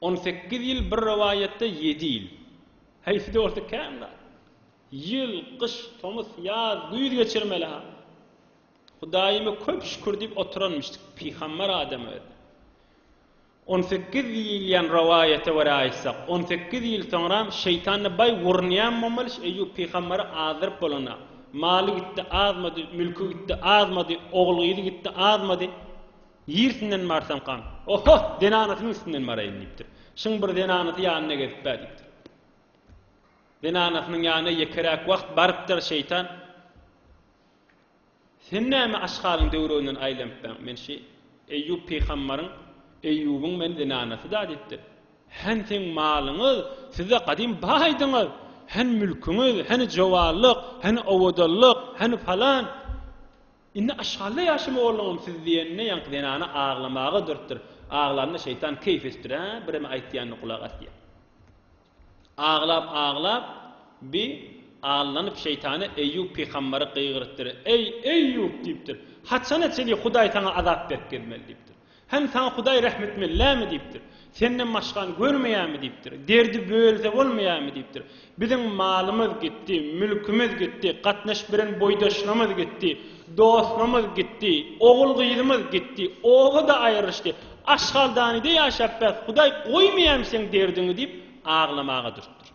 On sekiz ýyl bir rowaýatda ýedi ýyl. Haýsy-da bolsa kän zat. Ýyl, gyş, tomus, ýaz, güýz geçirmeli-ha. Hudaýyma köp şükür diýip oturanmyşdyk, pygambar adam özi. On sekiz diýilýän rowaýata görä aýtsak, on sekiz ýyl soňram şeýtanda baý gurunýan bolmaly, şu Eýýup pygambary azdyryp bolanda. Maly gitdi, azmady, mülki gitdi, azmady, ogul-gyzy gitdi, azmady. Ýersinden barsaň kan. Oho, zenanasynyň üstünden baraýyn, diýipdir. Şuň bir zenanasy ýanynda gezip-ä, diýipdir. Zenanasynyň ýanyna ýekeräk wagt barypdyr şeýtan. Sen näme aşgalyň döwreginden aýlanypbaň, men şi Eýýup pygambaryň, Eýýubyň men zenanasy-da, diýipdir. Hany seň malyňyz, siz-ä gadym baýdyňyz, hany mülküňiz, hany jowanlyk, hany owadanlyk, hany palan. Indi Aşgalda ýaşamaly bolduňam siz diýenine ýaňky zenana aglamaga durupdyr. Aglanda şeýtan keýp üstüre birem aýtýanyna gulak asýar. Aglap aglap bi allanyp şeýtana Eýýup pygamberi gygyrypdyr. Eý, Eýýup diýipdir. Haçana çenli Hudaý saňa azap berip gezmeli diýipdir. Hem saňa Hudaý rehm etmelilämi? diýipdir. Senden başgany görmeýämi? diýipdir. Derdi bölse bolmaýamy? diýipdir. Biziň malymyz gitdi, mülkümiz gitdi, gatnaşyp bilen boýdaşlarymyz gitdi, dostlarymyz gitdi, ogul-gyzymyz gitdi, oba-da aýrylyşdy. Aşhaldanyda ýaşap bäs, Hudaý goýmaýamy seň derdiňi diýip, aglamaga durupdyr.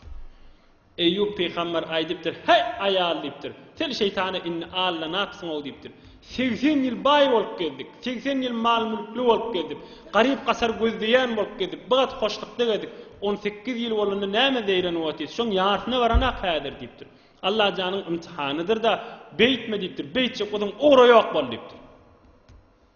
Eýýup pygamber aýdypdyr, Häý, aýal! diýipdir. Sen şeýtana indi aldanapsyň-ow diýipdir. Segsen ýyl baý bolup gezdik. Segsen ýyl mal-mülkli bolup gezdik. Garyp-gasar gözleýän bolup gezdik. Bir gat hoşlukda gezdik. On sekiz ýyl bolanda nämä zeýrenip otyrys? Şoň ýarsyna baranak häzir diýipdir. Allajanyň ymtihanydyr-da, beýtme diýipdir. Beýtjek bolsaň, ugra ýok bol diýipdir.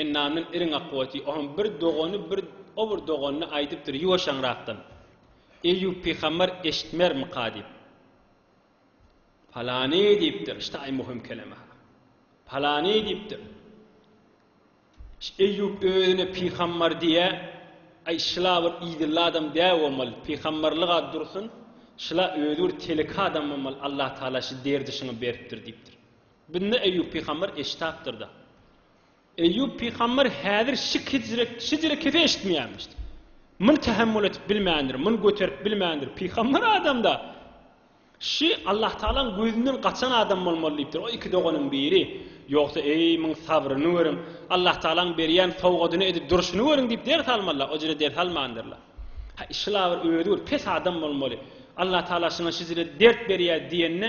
Ennamdan iriň akybeti, o hem bir dogany bir o bir doganyna aýdypdyr ýuwaşaňrakdan, Eýýup pygamber eşitmermika diýip. Palany diýipdir, ştaý möhüm keleme-ha. Palany diýipdir. Şu Eýýup özüne pygamber diýýä, aý şula bir idilli adam däl bolmaly, pygamberlik-a dursun, şula özi bir teleke adam bolmaly, Allatagala şu derdi şuňa beripdir diýipdir. Binde Eýýup pygamber eşitapdyrda. Eýýup pygamber häzir şik hijrek şijire kese eşitmeýärmişdi. Muny tähemmül etip bilmändir, muny göterip bilmändir. Pygamber adamda Şi Allah Taalaň gözünden gaçan adam bolmaly diýipdir. O iki doganyň biri. Ýogsa, eý, muň sabryny görüň. Allah Taalaň berýän sowgadyny edip durşuny görüň diýip ders almalylar. O jire ders almandyrlar. Şila bir özi bir pes adam bolmaly. Allah Taala şuňa şijire dert berýär diýende,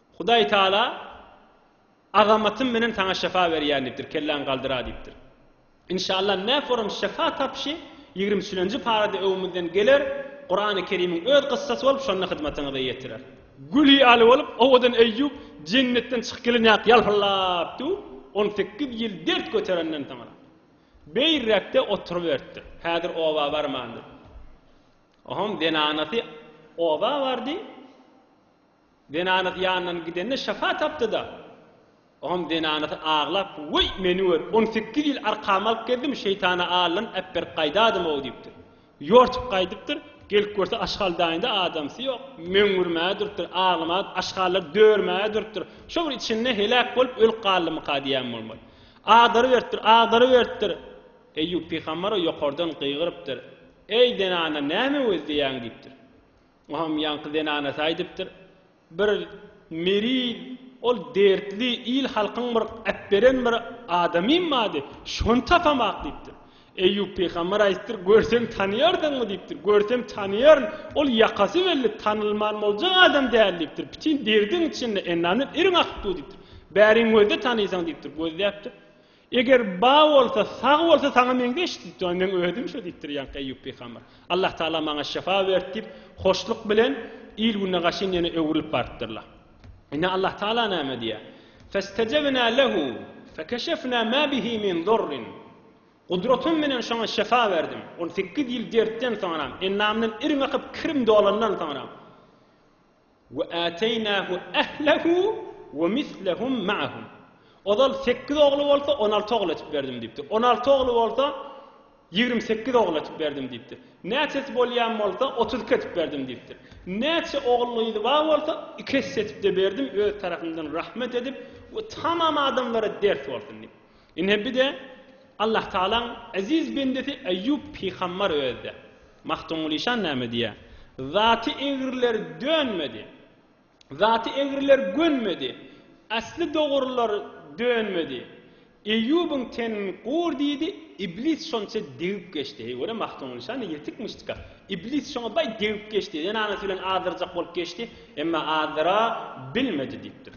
Hudaý Taala, Azamatym menen saňa şefa berýän diýipdir, kelläňi galdyra diýipdir. Inşallah näforum şefa tapyşy ýigrimi üçünji parada öňümizden geler, Kurany Kerimiň öz gyssasy bolup şonda hyzmatyňyza ýetirer. Gül ýaly bolup owadan Eýýup jennetden çykyp gelen ýaly ýalpyldap döwüp, on sekiz ýyl dert göterenden soňra, beýräkde oturyberipdir. Häzir oba barmandyr. Ohoň zenanasy oba bardy. Zenanasy ýanyndan gidende şyfa tapdy-da, oňam zenanasy aglap, Weý, meni gör, on sekiz ýyl arkamy alyp gezdim, şeýtana aldan äpberip gaýdadym-ow diýipdir. Ýortup gaýdypdyr, gelip görse aşgaldaýynda adamsy ýok. Möňňürmäge durupdyr, aglamaga, aşgallar dörmäge durupdyr. Şo bir içinde heläk bolup ölüp galdymyka diýýän bolmaly. Agdaryberipdir, agdaryberipdir. Eýýup pygamber-ow ýokardan gygyrypdyr, Eý, zenana, näme gözleýäň? diýipdir. Oňam ýaňky zenanasy aýdypdyr. Bir Meril ol dertli il-halkyň bir äpberen bir adamym bady, şony tapamak diýipdir. Eýýup pygamber aýtdyr, Görseň tanaýardyňmy diýipdir. Görsem tanaýaryn, ol ýakasy belli, tanalman boljak adam däl diýipdir. Bütin derdiň içinde ennamdan iriň akypdyw diýipdir. Bäriň gözle tanaýsaň diýipdir. Gözläpdir. Eger bar bolsa, sag bolsa saňa meňzeş diýipdir. Onda meň özüm şo diýipdir ýaňky Eýýup pygamber. Allah Tagala maňa şyfa berdi diýip, hoşluk bilen il gününe gaşyn ýene öwrülip barypdyrlar. Indi Allah Tagala näme diýýär? Festejebna lehu fekeşefna ma bihi min durrin. Gudratym bilen şoňa şyfa berdim. Ol sekiz ýyl dertden soňra, endamyndan iriň akyp kirim dolandan soňra. We ateýnahu ehlehu we mislehum maahum. Ozal sekiz ogly bolsa, on alty ogul etip berdim diýipdir. On alty ogly bolsa, ýigrimi sekiz ogul etip berdim diýipdir. Näçesi bolýan bolsa, otuz iki etip berdim diýipdir. Näçe ogul-gyzy bar bolsa, iki esse etip-de berdim, öz tarapymdan rahmet edip we tamam adamlara ders bolsun diýip. Ine bir-de Allahtagalaň eziz bendesi Eýýup pygambar özde. Magtymgulyşan näme diýýär? Zaty egriler dönmedi. Zaty egriler gönmedi. Asly dogrular dönmedi. Eýýubyň tenin gur diýdi, Iblis şonça degip geçdi. Heý, görä Magtymgulyşan-da ýetikmişdika. Iblis şoňa baý degip geçdi. Zenanasy bilen azdyrjak bolup geçdi, emma azdyra bilmedi diýipdir.